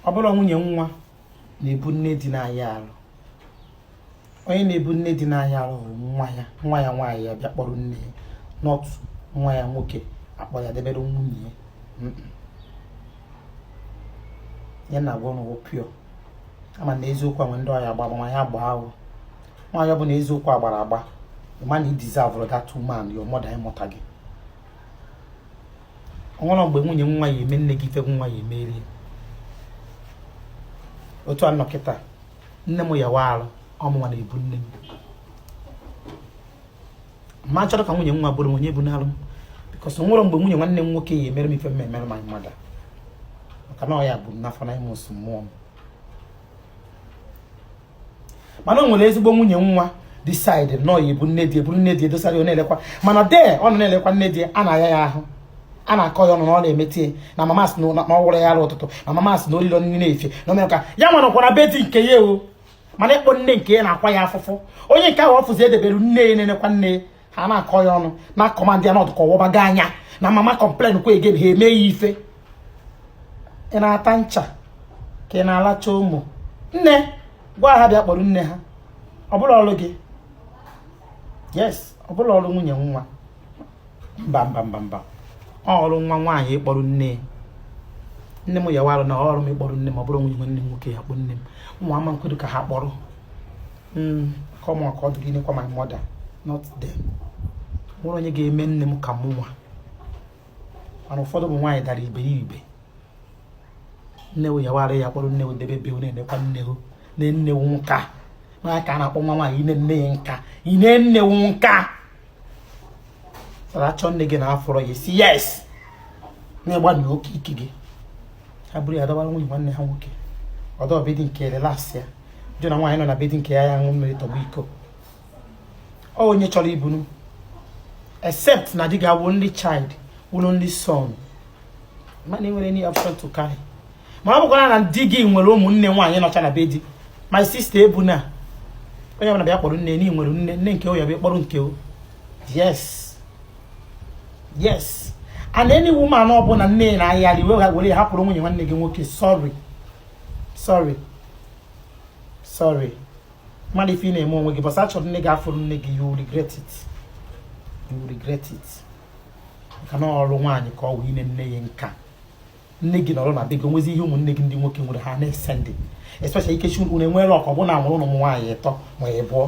ọ bụrọ nwunye nwa na-ebu nne di na-aya arụ onye na-ebu nne di na-aya arụ wụ nwa ya nwa ya nwaanyị ya bịa kpọrọ nne ya not nwa ya nwoke akpọ ya debere nwunye ya ya na agwa n'ụwa pio a ma na eziokwu nwe ndị ọ ya-agba agba ma ya gbaa ahụ nwaanyị ọbụna eziokwu a gbara agba ịma na i deserve that woman your mother ịmụta gị o nwerọ mgbe nwunye nwa ya-eme nne gị ife nwa ya-emere ya otu a nọkịta nne m yawa arụ ọ mụ nwa na-ebu nne m ma chọrọ ka nwunye nwa bụrụ onye bụ n'alụ m because o nwerọ mgbe nwunye nwanne m nwoke ya-emere m ife m emere my mother maka na ọ ya bu m n'afọ na emesịa mụọ m mana o nwere ezigbo nwunye nwa decide na ọ ya-ebu nne di ya buru nne di ya dosara ya na-elekwa mana dee ọ nọ na-elekwa nne di ya na-aya aya ahụ a na-akọ ya ọnụ na ọ na-emete ya na mama sị na ọ wụrọ ya arụ ụtụtụ na mama sị na o lilọ nri n'efifie na o mere ka ya nwa nọkwa na be di nke ya o mana ịkpọ nne nke ya na-akwa ya afụfụ onye nke ahụ ọ fụzi e debere nne ya na-enekwa nne ya ha na-akọ ya ọnụ na command ya na ọ dụ ka ọ wọba gị anya na mama complain kwa again ha eme ya ife ị na-ata ncha ka ị na-alacha ụmụ nne gwa ha bịa kpọrọ nne ha ọ bụrọ ọrụ gị yes ọ bụrọ ọrụ nwunye nwa mba mba mba mba ọ ọrụ nwa nwaanyị ịkpọrọ nne nne m yawa arụ na ọrụ m ịkpọrọ nne m ọ bụrọ nwunye nwanne m nwoke ya-akpọ nne m nwa ama m ekwedu ka ha kpọrọ Maka mụ nwa ka ọ dụrụ inekwa my mother, not them. Nwerọ onye ga-eme nne m ka mụ nwa. Mana ụfọdụ ụmụ nwaanyị dara iberibe. Nne wo yawa arụ ya kpọrọ nne wo debe be wo na-enekwa nne wo ne nne wo nka. Nwaanyị ka a na-akpọ nwa nwaanyị ine nne ya nka. Ine nne wo nka. achọọ nne gị na afụrọ ya ị sị yes na ị gbana oke ike gị ha buru ya dobara nwunye nwanne ha nwoke nọdụ be di nke ya relax ya jụ na nwaanyị nọ na be di nke ya ya ṅụọ mmiri tọgbọ iko ọ wụ onye chọrọ ibunu except na di gị wụ only child wụrụ only son mana i nwerọ any option to carry ma ọ bụkwanụ na di gị nwere ụmụnne nwaanyị nọcha na be di my sister ebuna onye ọbụla bịa kpọrọ nne n'ihi nwere nne nne nke onye bịa kpọrọ nke o yes yes and any woman ọbụla nne na-aya arụ wee were hapụrụ nwunye nwanne gị nwoke sorry sorry sorry ị madụ ife ị na-eme onwe gị ụbọsị a chọrọ nne gị afụrọ nne gị you regret it you regret it maka na ọ ọrụ nwaanyị ka ọ wụ ine nne ya nka nne gị nọrọ na be gị o nwezi ihe ụmụnne gị ndị nwoke nwere ha na-esendi especially in case unu enwee luck ọ bụ na a mụrụ unu ụmụ nwaanyị ịtọ ma ịbụọ